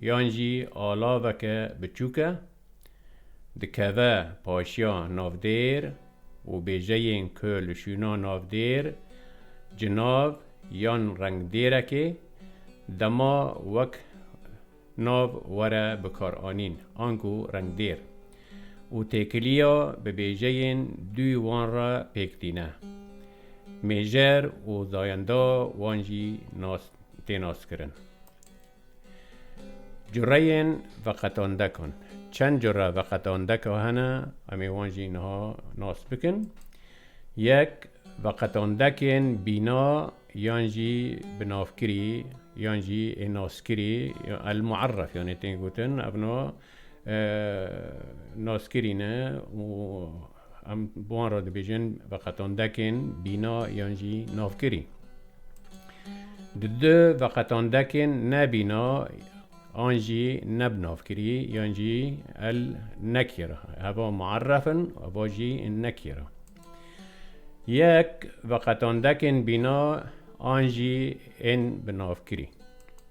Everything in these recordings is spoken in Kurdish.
yan jî alaveke biçûk e, dikeve paşiya navdêr û bêjeyên ku li şûna navdêr cinav yan rengdêrekê dema wek nav were bikaranîn anku rengdêr û têkiliya bi bêjeyên dûyî wan re pêk tîne. Mêjer û zayenda wan jî nas tê naskirin. Cureyên veqetandekan. Çend cure veqetandeka hene, em ê wan jî niha nas bikin. Yek, veqetandekên bîna yan jî binavkirî yan jî ê naskirî el-muerref yanê tên gotin, evna naskirî ne û Em bi wan re dibêjin veqetandekên bîna yan jî navkirî. Di du veqetandekên ne bîna an jî ne bi navkirî yan jî el nekira heva muerref in û heva jî nekira. Yek veqetandekên bîna an jî ên bi navkirî.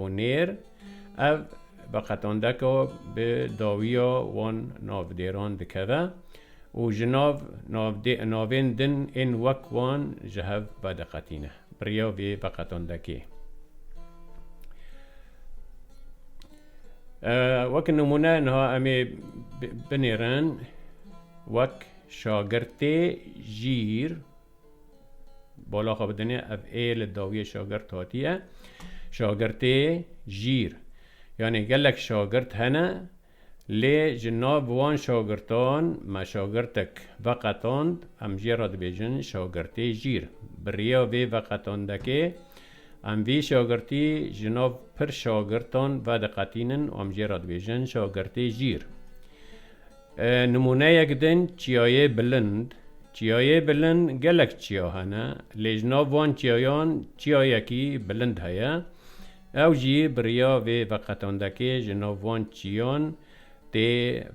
û nêr, ev bi qetandeka bi dawiya wan navdêran dikeve û ji nav navên din ên wek wan ji hev vediqetîne. Bi riya vê biqetandekê wek nimûne niha em ê binêrin wek şagirtê jîr, Bala xwe bidinê ev ê li dawiyê şagirt hatiye. Şagirtê jîr. Yanê gelek şagirt hene lê ji nav wan şagirtan me şagirtek veqetand em jê re dibêjin şagirtê jîr. Bi riya vê veqetandekê em vî şagirtî ji nav pir şagirtan vediqetînin û em jê re dibêjin şagirtê jîr. Nimûneyek din çiyayê bilind. Çiyayê bilind gelek çiya hene lê ji nav van çiyayan çiyayekî bilind heye. Ew jî bi riya vê veqetandekê ji nav van çiyan tê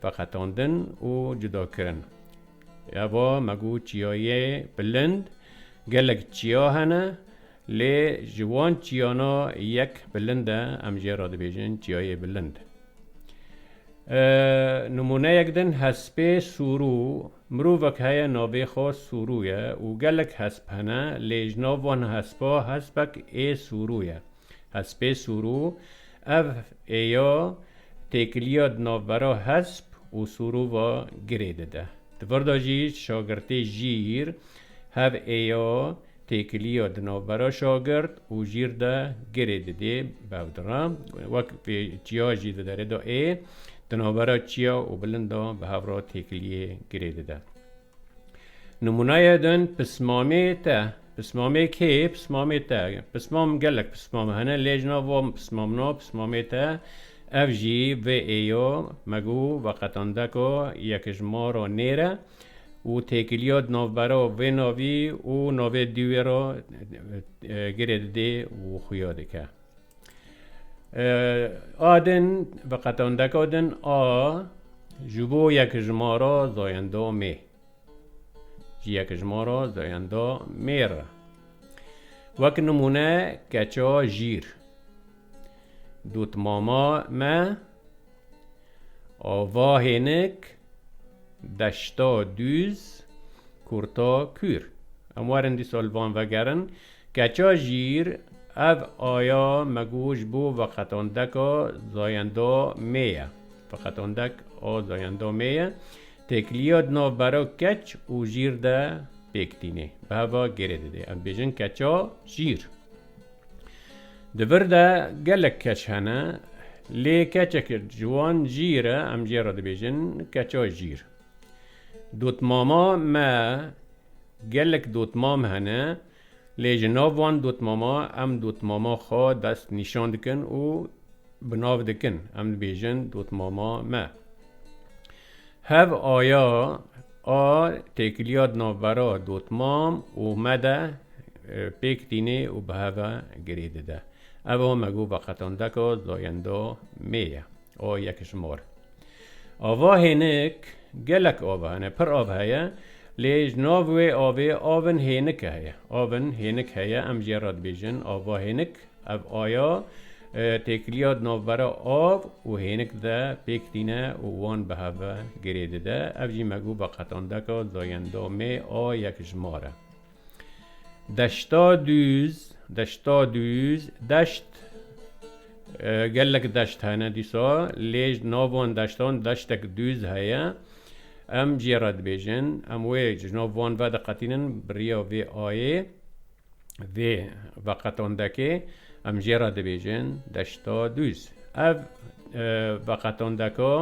veqetandin û cudakirin. Eva me got çiyayê bilind gelek çiya hene. Lê ji wan çiyana yek bilind e, em jê re dibêjin çiyayê bilind. Nimûneyek din hespê sûrû, mirovek heye navê xwe sûrû ye û gelek hesp hene lê ji nav wan hespa hespek ê sûrû ye. Hespê sûrû, ev ê ya têkiliya di navbera hesp û sûrû ve girê dide. Di vir de jî şagirtê jîr hev ê ya Têkiliya di navbera şagirt û jîr de girê didê bevdira. Wek vê çiya jî di derê de ê, di navbera çiya û bilind de bi hev re têkiliyê girê dide. Nimûneyê din pismamê te. Pismamê kê? Pismamê te. Pismam gelek pismam hene lê ji nav van pismamna pismamê te ev jî vê ê ya me got veqetandeka yekijmara nêr e. û têkiliya di navbera vê navî û navê dî wê re girê didê û xuya dike. A din bi qetandeka din a ji bo yekijmara zayenda mê. Ji yekijmara zayenda mê re. Wek nimûne keça jîr. Dotmama me Ava hênik, deşta dûz, kurta kûr. Em werin dîsa li van vegerin. Keça jîr, ev aya me got ji bo veqetandeka zayenda mê ye. Veqetandek a zayenda mê ye. Têkiliya di navbera keç û jîr de pêk tîne. Bi heva gêrê dide. Em dibêjin keça jîr. Di vir de gelek keç hene lê keçeke ji wan jîr e em jê re dibêjin keça jîr. Dotmama me gelek dotmam hene lê ji nav wan dotmama em dotmama xwe dest nîşan dikin û bi nav dikin em dibêjin dotmama me. Hev aya a têkiliya di navbera dotmam û me de pêk tîne û bi hev e girê dide. Ev a me got veqetandeka zayenda mê ye. A yekişmar. Ava hênik gelek av hene, pir av heye lê ji nav wê avê avin hênike heye. Avin hênik heye em jê re dibêjin ava hênik. Ev aya têkiliya di navbera av û hênik de pêk tîne û wan bi hev ve girê dide. Ev jî me got veqetandeka Zayendamê a yekjmar e. Deşta dûz, deşta dûz, deşt, gelek deşt hene dîsa lê ji nav wan deştan deştek dûz heye. Em cê re dibêjin, em wê ji nav wan ve diqetînin bi riya vê ayê. Vê veqetondekê em jê re dibêjin Deşta Dûz. Ev veqetondeka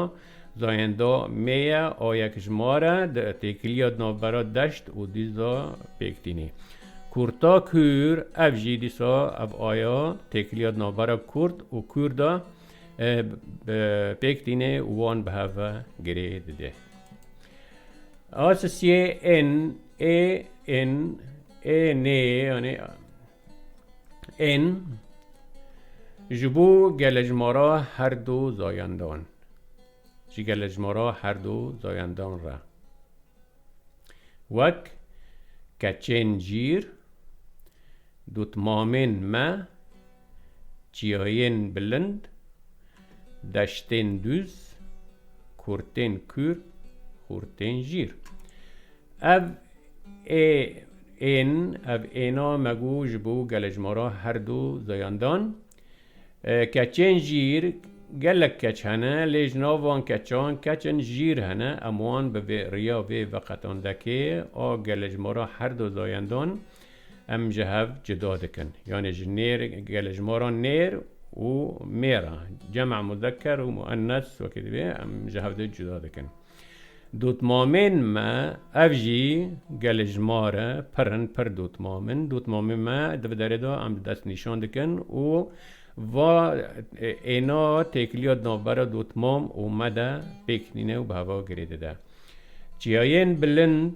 Zayendo Mê ye a yek ji ma re di têkiliya di navbera deşt û dûz de pêk tînî. Kurta kûr ev jî dîsa ev aya têkiliya di navbera kurd û kûr de pêk tînê û wan bi hev ve girê dide. A sisiyê ên Ê in ê nê yanî in ji bo gelejmara her du zayandan ji gelejmara her du zayandan re wek keçên cîr, Dotmamên me, çiyayên bilind, deştên dûz, kurtên kûr, xurtên jîr. Ev ê ên, ev êna me gu ji bo gelejmara her du zayan dan. Keçên jîr, gelek keç hene, lê ji nav van keçan keçên jîr hene. Em wan bi vê riya vê veqetandekê a gelejmara her du zayan dan, Em ji hev cuda dikin. Yanê ji nêr gelê ji maran nêr û mêr a. Cem a muzeker û muennes wekî divê em ji hev de cuda dikin. Dotmamên me ev jî gelê ji ma re pir in, pir dotmam in. Dotmamên me di vi derê de em didest nîşan dikin û va êna têkiliya di navbera dotmam û me de pêk nîne û bi heva girê dide. Çiyayên bilind.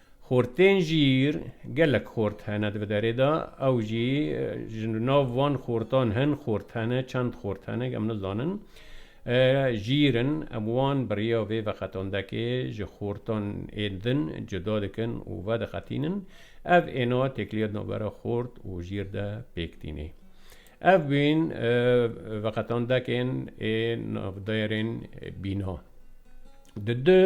Xortên jîr gelek xort hene di vê derê de, ew jî ji nav van xortan hin xort hene, çend xort hene em nizanin. Jîr in, em wan bi riya vê veqetandekê ji xortan ên din cuda dikin û vediqetînin. Ev êna têkiliya di navbera xort û jîr de pêk tînê. Ev bûn veqetandekên ê navdairên bîna. Di du.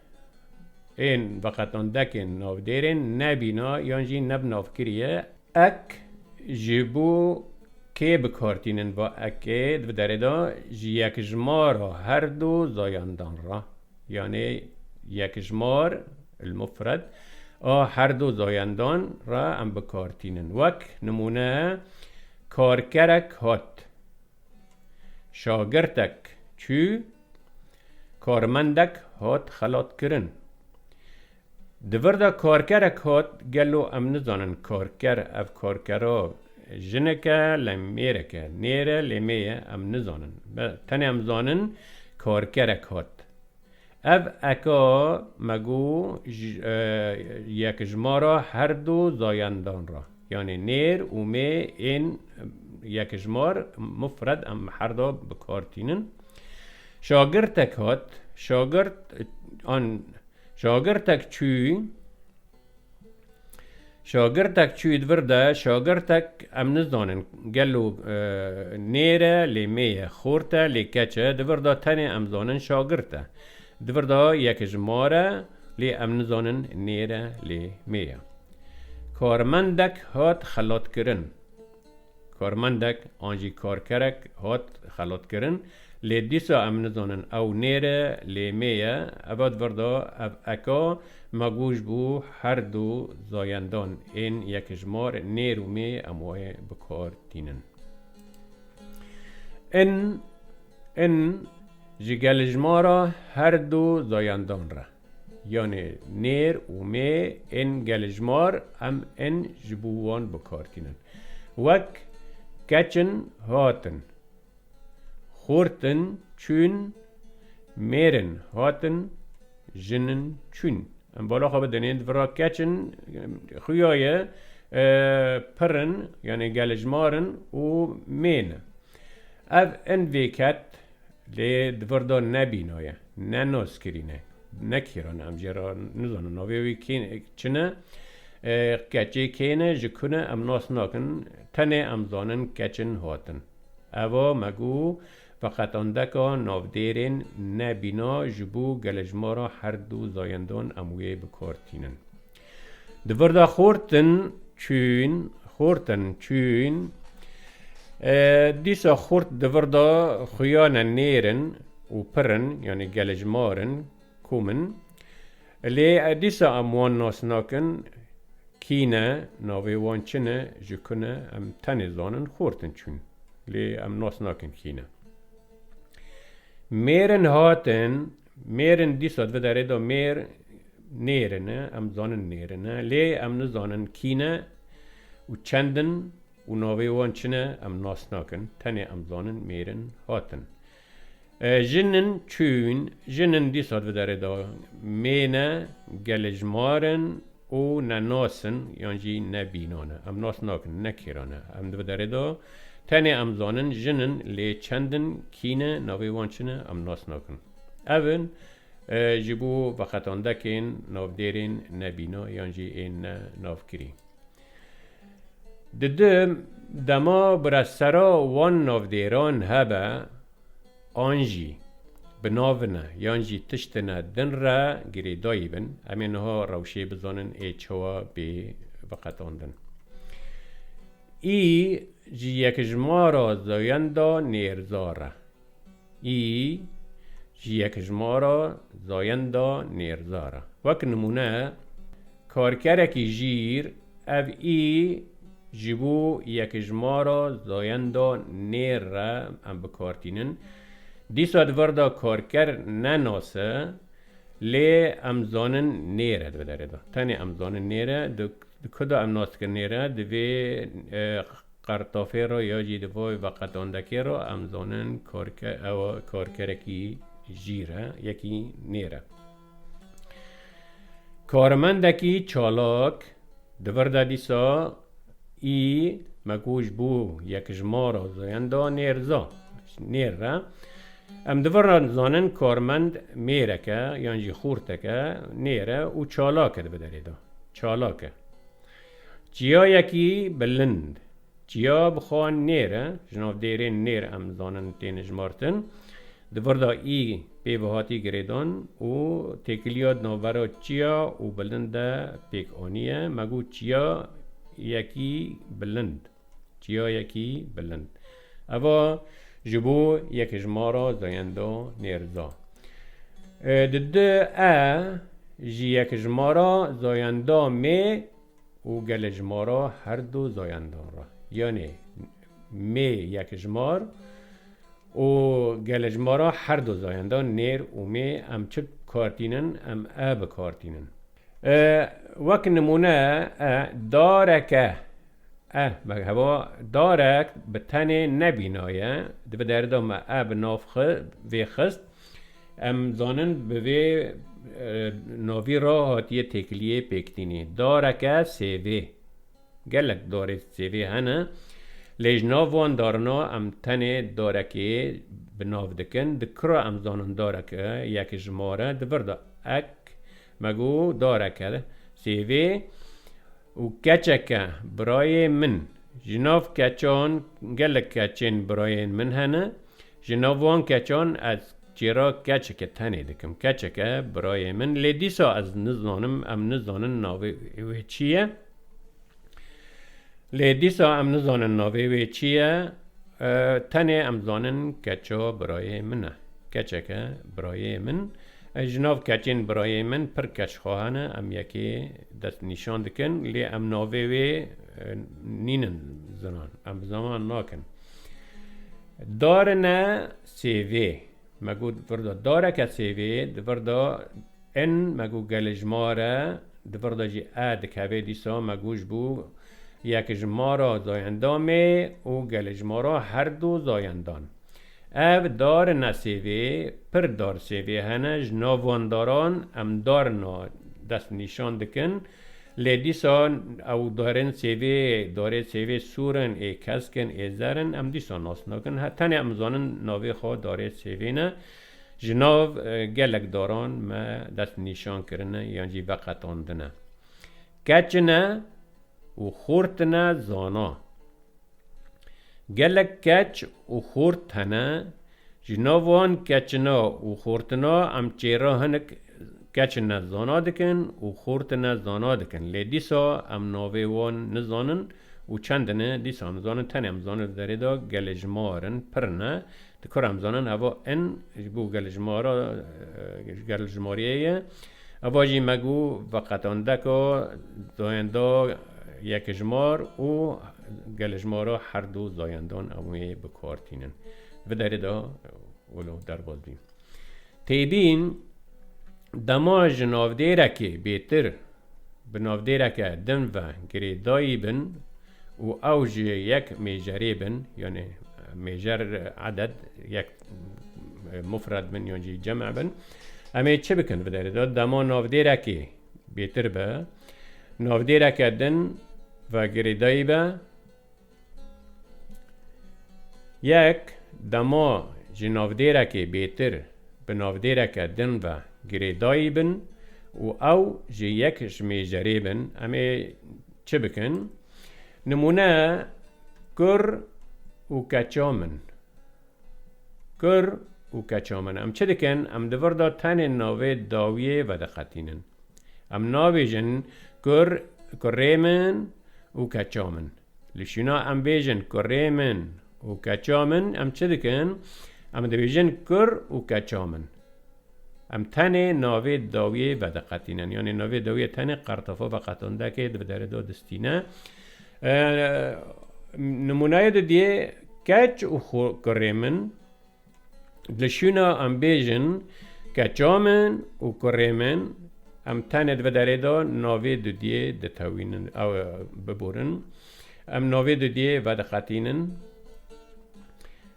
Ên veqetandekên navdêrên nebîna yan jî ne bi nav kiriye ek ji bo kê bikartînin va ekê di derê de ji yekjimara her du zayandan re yanê yekjimar elmufred a her du zayandan re em bikartînin wek nimûne karkerek hat. Şagirtek çû, karmendek hat xelatkirin. Di vir de karkerek hat, gelo em nizanin karker ev karkera jinek e lê mêrek e, nêr e lê mê ye em nizanin. Tenê em zanin karkerek hat. Ev eke me got yekijmara her du zayendan re, yanê nêr û mê ên yekijmar mufred em her da bi kar tînin. Şagirtek hat, şagirt an, şagirtek çû. Şagirtek çûyî vir de şagirtek em nizanin gelo nêr e lê mê ye, xort e lê keç e, di vir de tenê em zanin şagirt e. Di vir de yek ji mar e lê em nizanin nêr e lê mê ye. Karmendek hat xelatkirin. Karmendek an jî karkerek hat xelatkirin, lê dîsa em nizanin ew nêre lê mê ye. Eva divirda ev eka me goş bû her du zayendan ên yekijmar nêr û mê em wê bi kar tînin. In in ji gelijmara her du zayendan re. Yanê nêr û mê ên gelijmar em ên ji bo wan bikar tînin. Wek, keçin, hatin. Xortin, çûn. Mêrin, hatin. Jinin, çûn. Em bala xwe bidinên di vir re keçin xuya ye pir in yanê gelijmar in û mêne. Ev in vêket Lê di vir de ne bîno ye, ne nozkirîn e, ne kîran e, em jê re nizanin navê wî kî çi ne, keçê kê ne, ji ku ne em nas nakin, tenê em zanin keçin hatin. Eva me got, veqetandeka navdêrên ne bîna ji bo gelê ji ma re her du zayendan em wê bi kar tînin. Di vir de xortin çûn, xortin çûn. E, dîsa xort di vir de xuyane nêr in û pir in, yanî gelejmar in, kom in. Lê e, dîsa em wan nas nakin kî ne, navê wan çi ne, ji ku ne, em tenê zanin xortin çûn. Lê em nas nakin kî ne. Mêrin hatin. Mêrin dîsa divide rê de mêr nêrin e, em dizanin nêrin e, lê em nizanin kî ne û çend in û navê wan çi ne em nas nakin, tenê em dizanin mêrin hatin. Jin in çûn, jin in dîsa divide rê de mêne gelê ji mar in, Û ne nas in yan jî ne bînan e. Em nas nakin ne kêran e. Em di vê derê de tenê em zanin jin in lê çend in, kî ne, navê wan çi ne em nas nakin. Ev in ji bo veqetandekên navdêrên ne bîna yan jî ên ne navkirî. Didim dema bi re sera wan navdêran hebe, an jî bi navin e yan jî tiştin e din re girêdayî bin, em ê niha rewşê bizanin ê çawa bê veqetandin. Î ji yekjimara zayenda nêrzar e. Î ji yekjimara zayenda nêrzar e. Wek nimûne. Karkerekî jîr, ev î ji bo yekijmara zayenda nêr re em bi kar tînin. Dîsa di vir de karker ne nas e, lê em zanin nêr e di derê de. Tenê em zanin nêr e. Di ku de em nas dikin nêr e? Di vê qertafê re ya jî di vê veqetandekê re em zanin karker ew karkerekî jîr e, yekî nêr e. Karmendekî çalak di vir de dîsa î me ku ji bo yek ji ma re zoyan da nêr za nêr re. Em di vir re dizanin karmend mêrek e yan jî xûrtek e nêr e û çalak e di bi derê de. Çalak e. Çiyayekî bilind. Çiya bixwa nêr e, ji nav dêrên nêr em dizanin tên hijmartin. Di vir de ê pê ve hatiye girêdan û têkiliya di navbera çiya û bilind de pêk aniye. Me got çiya yekî bilind. Çiya yekî bilind. Eva ji bo yek ji ma re zayenda nêrza. Di di e ji yek ji ma re zayenda mê û gele ji ma re herdu zayendan re. Yanê mê yek ji ma re. Û gelê ji ma ra her du zayendan nêr û mê em çi kar tînin em e bi kar tînin. Wek nimûne e dareke e me heva darek bi tenê nebînaye dibe derida me e bi nav vê xist em zanin bi vê navî ra hatiye têkiliyê pêktînî dareke sêvê. Gelek dorê sêvê hene lê ji nav wan darina em tenê dorekê bi nav dikin. Di kura em zanin dorek e ya ki ji mar e di vir de ek me got dorek e sêvê û keçek e birayê min. Ji nav keçan gelek keçên birayên min hene ji nav wan keçan ez Çêra keçeke tenê dikim. Keçeke birayê min lê dîsa ez nizanim em nizanin navê wê çi ye. Lê dîsa em nizanin navê wê çi ye. Tenê em zanin keça birayê min e. Keçeke birayê min. Ji nav keçên birayê min pir keçxahe ne. Em yekê dest nîşan dikin lê em navê wê nînin zinan. Em bi ziman nakin. Darine CV, me got di vir de dareke CV, di vir de in, me got gelê ji ma re, di vir de jî e dikeve dîsa me got ji bo yek ji ma re zayendamê û gelê ji ma re herdu zayendan. Ev dar in ne CV, pir dar CV hene, ji nav wan daran em dar na dest nîşan dikin, Lê dîsan ew darên sêvê, darê sêvê sor in, ê kesk in, ê zer in, em dîsan nas nakin. He, tenê em zanin navê xwe darê sêvê ne. Ji nav gelek daran me dest nîşan kirine yan jî veqetandine. Keçine û xortine zana. Gelek keç û xort hene, ji nav wan keçina û xortina em çêra hinek keçine zana dikin û xortine zana dikin. Lê dîsa em navê wan nizanin û çend ne dîsa em nizanin tenê em nizanin li derê de gelê ji mar in, pir ne, Di kor em zanin eva in ji bo gelêjmara ji gelêjmariyê ye. Eva jî me got veqetandeka zayenda yekêjmar û gelêjmara herdu zayendan em wê bi kar tînin. Di derê de wilo derbas bî. Têbîn dema ji navdêrekê bêtir Bi navdêreke din ve girêdayî bin û ew ji yek mêjerê bin, yanê mêjer eded yek mufred bin yan jî cem bin, em ê çi bikin? Bi derê de dema navdêrekê bêtir be, navdêreke din ve girêdayî be, Yek dema ji navdêrekê bêtir bi navdêreke din ve girêdayî bin û ew jê yek ji mêjerê bin em ê çi bikin? Nimûne kur û keçam in. Kur û keça min em çi dikin? Em di vir de tenê navê dawiyê vediqetînin. Em nabêjin kur, kurê min û keça min. Li şûna em bêjin kurê min û keça min em çi dikin? Em dibêjin kur û keça min. Em tenê navê dawiyê vediqetînin. Yanî navê dawiyê tenê qertofa veqetindekê di bi derê de distîne. Nimûneyê de diyê keç û kurê min li şûna em bêjin keça min û kurê min em tenê di bi derê de navê dudiyê ditewînin biborin. Em navê dudiyê vediqetînin.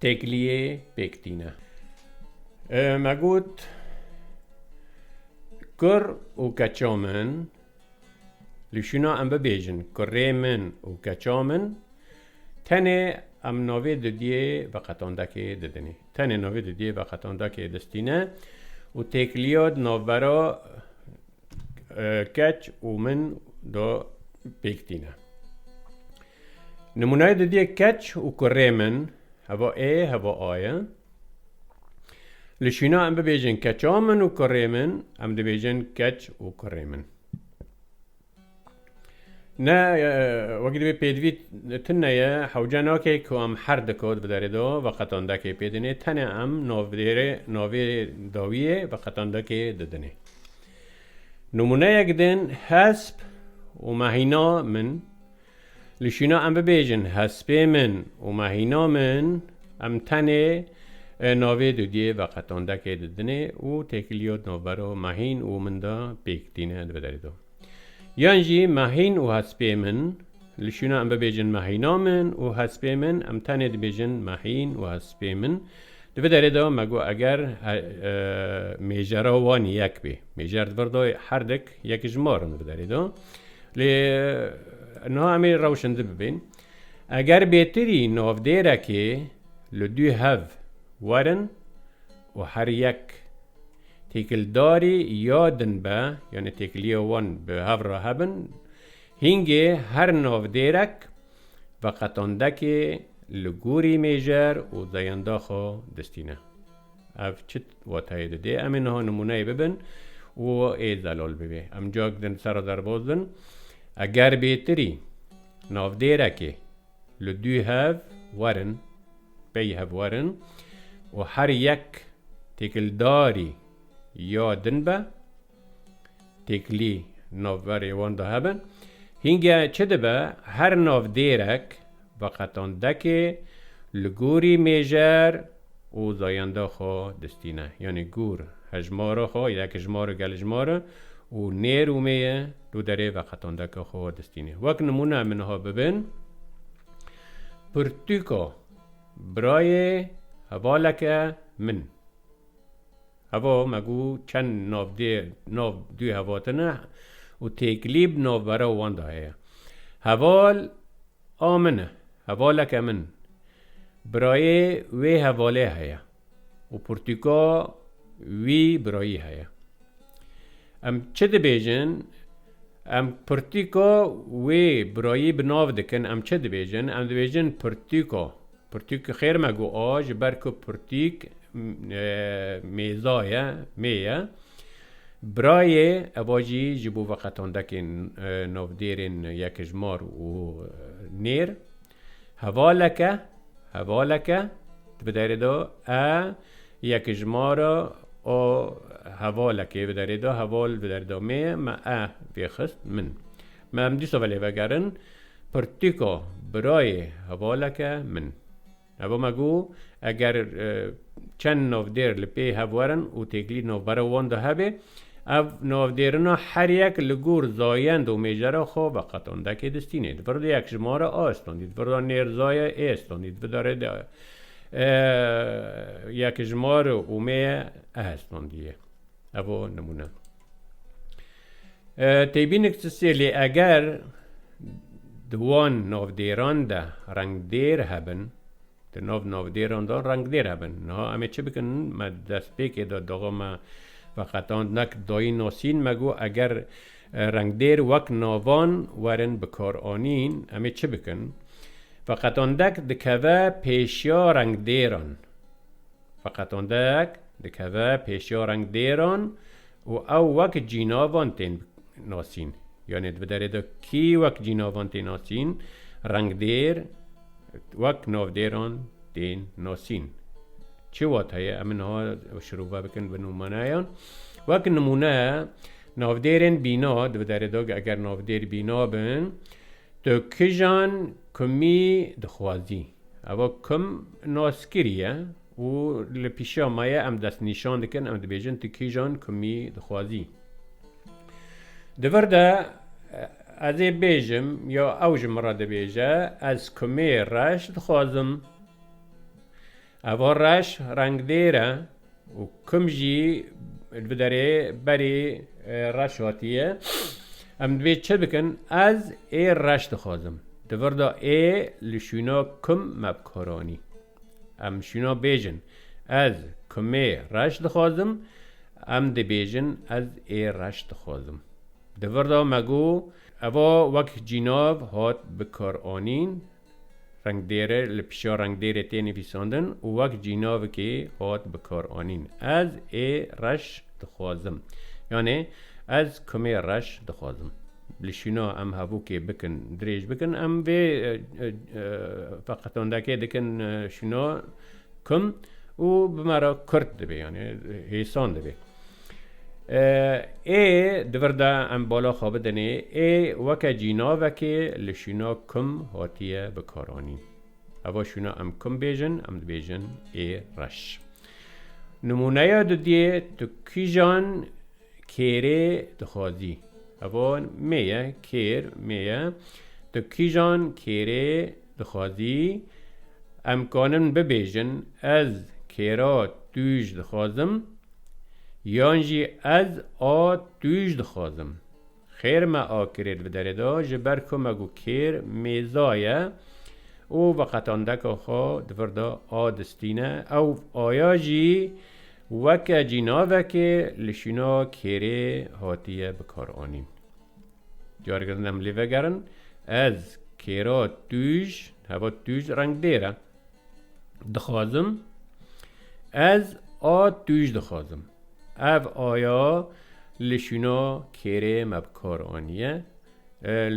Têkiliyê pêktîne. Me got kur û keça min li şûna em bibêjin kurê min û keça min tenê em navê didiyê veqetandekê didinê. Tenê navê didiyê veqetandekê distîne û têkiliya di navbera keç û min de pêk tîne. Nimûneyê didiyê keç û kurê min heva ê heva a ye. Li şîna em bibêjin keça min û kurê min, em dibêjin keç û kurê min. Ne wekî divê pêdivî tune ye, hewce nake ku em her di kod bi derê de veqetandekê pê dinê, tenê em navdêrê navê dawiyê veqetandekê didinê. Nimûneyek din hesp û mehîna min. Li şîna em bibêjin hespê min û mehîna min, em tenê navê dudiyê veqetandekê didinê û têkiliya di navbera mehîn û min de pêk tîne dibe derê de. Yan jî mehîn û hespê min, li şîna em bibêjin mehîna min û hespê min, em tenê dibêjin mehîn û hespê min, dibe derê de me got eger mêjera wan yek bê, mêjer di vir de her dik yek ji mar in dibe derê de. Lê niha em ê rewşindi bibin. Eger bêtirî navdêrekê li du hev werin û her yek têkildarî ya din be, yanî têkiliya wan bi hev re hebin, hîngê her navdêrek veqetandekê li gorî mêjer û zeyanda xwe distîne. Ev çi watayê dide? Em ê niha nimûneyê bibin û ê zelal bibe. Em cak din serra derbas bin. Eger bêtirî navdêrekê li dû hev werin, pey hev werin û her yek têkildarî ya din be, Têkilî navberê wan de hebe. Hînge çi dibe her navdêrek veqetandekê li gorî mêjer û zayenda xwe distîne. Yanî gor hejmara xwe yekjmar gelijmar û nêr û mêye li derê veqetandeke xwe distîne. Wek nimûne min niha bibin pirtûka birayê hevaleke min. Heva me ku çend navdêr nav dû hevatin e û têkilî bi navbera wan de heye. Heval a min e, hevaleke min, birayê wê hevalê heye û pirtûka wî birayî heye. Em çi dibêjin? Em pirtûka wê birayî bi nav dikin, em çi dibêjin? Em dibêjin pirtûka. Pirtûk xêr me got a, ji ber ku pirtûk mêza ye, mê ye. Birayê eva jî ji bo veqetandekên navdêrên Yekijmar û Nêr. Hevaleke, hevaleke, di bi derê de e, Yekijmara a hevalekê bi derê de, heval bi derê de mê ye, me e vê xist min. Me em dîsa velê vegerin pirtîka birayê hevaleke min. Heva me got, eger çend navdêr li pê hev werin û têkilî navbera wan de hebe, ev navdêrina her yek li gor zayend û mêjera xwe veqetandekê distînê. Di vir de yek ji mare A standî, di vir de nêrzaye E standî, di vir de rê de yek ji mare û mêye E standî ye. Heva nimûne. Têbînik çi sêlê eger di wan navdêran de rengdêr hebin, di nav navdêran de rengdêr hebin. Niha em ê çi bikin? Me di destpêkê de daxa me veqetand nek dayîn nasîn me got eger rengdêr wek navan werin bikaranîn em ê çi bikin? Veqetandek dikeve pêşiya rengdêran. Feqet ondek dikeve pêşiya rengdêran û ew wek cînavan tên nasîn. Yanê di derê de kî wek cînavan tê nasîn, rengdêr wek navdêran tên nasîn. Çi wateye? Em ê niha şirove bikin bi nûmaneyan. Wek nimûne navdêrên bîna di derê de eger navdêr bîna bin, tu kijan, kumî dixwazî? Eva kum naskirî ye û li pîşiya me ye, em destnîşan dikin, em dibêjin tu kîjan kumî dixwazî. Di vir de ez ê bêjim ya ew ji min re dibêje ez kumê reş dixwazim. Eva reş rengdêr e, Û kum jî li bi derê berî reş hatiye. Em divê çi bikin? Ez ê reş dixwazim. Di vir de ê li şûna kum me bikoranî. Em şûna bêjin, Ez kumê reş dixwazim. Em dibêjin, Ez ê reş dixwazim. Di vir de me got, Eva wek cînav hat bikaranîn, Rengdêre li pişa rengdêrê tê nivîsandin û wek cînavkê hat bikaranîn. Ez ê reş dixwazim. Yanê ez kumê reş dixwazim. Li şûna em hevokê bikin dirêj bikin em vê feqetandekê dikin şûna kum û bi me re kurt dibê yanê hêsan dibê. Ê di vir de em bala xwe bidinê, ê weke cînavekê li şûna kum hatiye bikaranîn. Heva şûna em kum bêjin, em dibêjin ê reş. Nimûneya dudiyê tu kîjan kêrê dixwazî? Heva mê ye, kêr mê ye. Tu kîjan kêrê Dixwazî em kanin bibêjin ez kêra tûj dixwazim yan jî ez a tûj dixwazim. Xêr me a kirêt bi derê da ji ber ku me got kêr mêza ye û veqetandeka xwe di vir de a distîne, ew aya jî weke cînavekê li şûna kêrê hatiye bikaranîn. Cargirin em lê vegerin ez kêra tûj heva tûj rengdêr e dixwazim ez a tûj dixwazim ev aya li şûna kêrê me bi kar aniye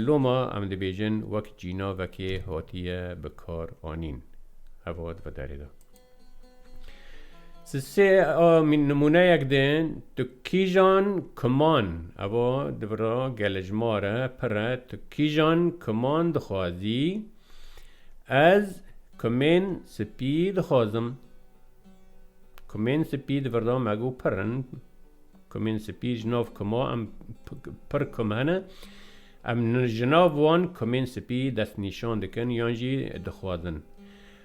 loma em dibêjin wek cînavekê hatiye bi kar anîn heva di vê derê de. Siz sê nimûneyek dên, tu kîjan kiman, evo di vira gele ji ma re pir e, tu kîjan kiman dixwazî, ez kimên spî dixwazim. Kimên spî di vira me got pir in, kimên spî ji nav kima em pir kim hene, em ji nav wan kimên spî destnîşan dikin yan jî dixwazin.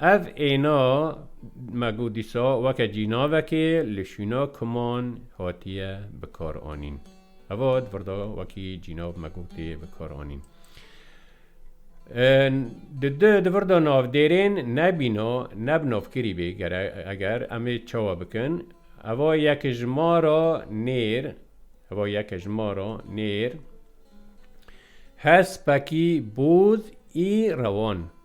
Ev êna me got dîsa weke cînavekê li şûna kuman hatiye bikaranîn. Heva di vir de wekî cînav me got tê bikaranîn. Di di di vir de navdêrên nebîna ne bi navkirî bê eger em ê çawa bikin heva yek ji ma re nêr heva yek ji ma re nêr hespekî boz î rewan.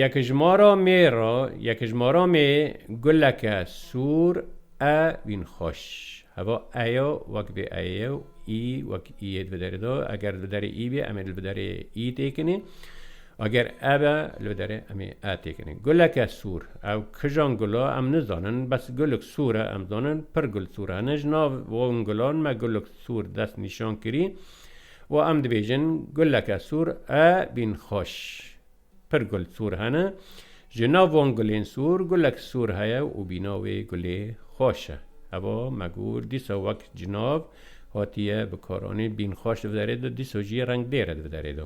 Yekijmara mê ra yekijmara mê guleke sor e wîn xweş. Heva e ya wek bê e ye û î wek î yê dibi derê de. Eger li derê î bê em ê li bi derê î têkinê. Eger e be li bi derê em ê e têkinê. Guleke sor. Ew kijan gul e em nizanin. Bes gulik sor e em zanin. Pir gul sor hene. Ji nav wan gulan me gulik sor dest nîşan kirî. Û em dibêjin guleke sor e bîn xweş. Pir gul sor hene. Ji nav van gulên sor gulek sor heye û bîna wê gulê xweş e. Heva me got dîsa wek ji nav hatiye bikaranîn bîn xweş di derê de dîsa jî rengdêr e di derê de.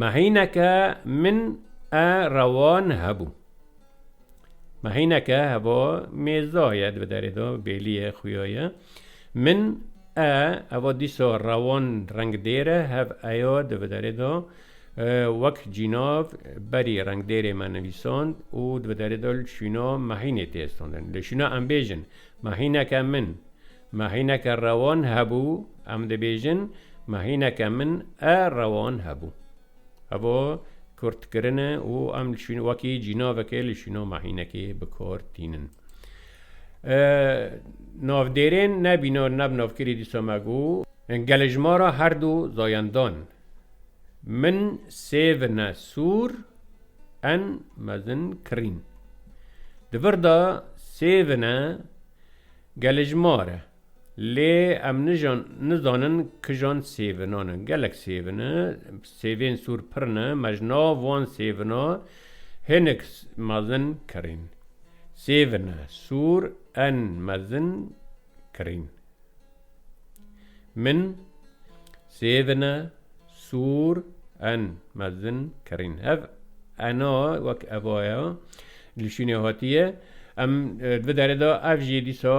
Mehîneke min e rewan hebû. Ma hêneke heva mêza ye di derê de bêlî ye xuya ye. Min e heva dîsa rewan rengdêr e hev eya di derê de wek cînav berî rengdêrê me nivîsand û di derê de li şûna me hînê tê standin. Li şûna em bêjin ma hêneke min ma hêneke rewan hebû em dibêjin ma hêneke min e rewan hebû. Evo kurt kirin e û em li şîn wekî cînavekê li şîno mehînekê bi kor tînin. E, navdêrên nebîno neb navkirî dîsa me gu gelê ji ma ra her du zayendan min sêvine sûr en mezin kirîn. Di vir de sêvine gelê ji ma re Lê em nijan nizanin kijan sêvinan in. Gelek sêvin in. Sêvên sor pir ne. Me ji nav wan sêvina hinek mezin kirîn. Sêvine sor en mezin kirîn. Min sêvine. Sûr en mezin kerîn. Ev ena wek eva ye li şûnê hatiye. Em di vê derê de ev jî dîsa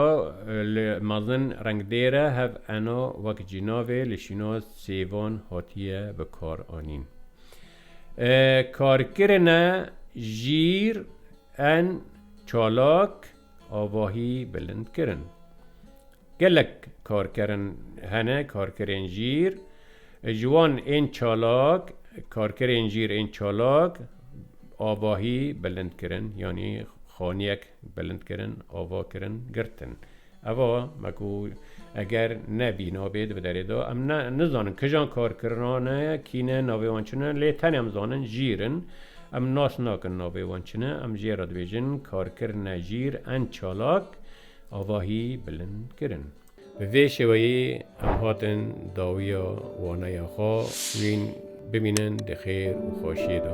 li mezin rengdêr e. Hev ena wek cînavê li şûna sêvan hatiye bikaranîn. Karkirine jîr en çalak avahî bilind kirin. Gelek karkerin hene, karkerên jîr, ji wan ên çalak, karkerên jîr ên çalak avahî bilind kirin, yanî xaniyek bilind kirin, ava kirin, girtin. Eva me ku eger ne bîna bê di bi derê de, em ne nizanin kijan karkirina ne, kî ne, navê wan çi ne, lê tenê em zanin jîr in. Em nas nakin navê wan çi ne, em jê re dibêjin karkirine jîr ên çalak avahî bilind kirin. Bi vê şêweyê em hatin dawiya waneya xwe wîn bimînin di xêr û xweşiyê de.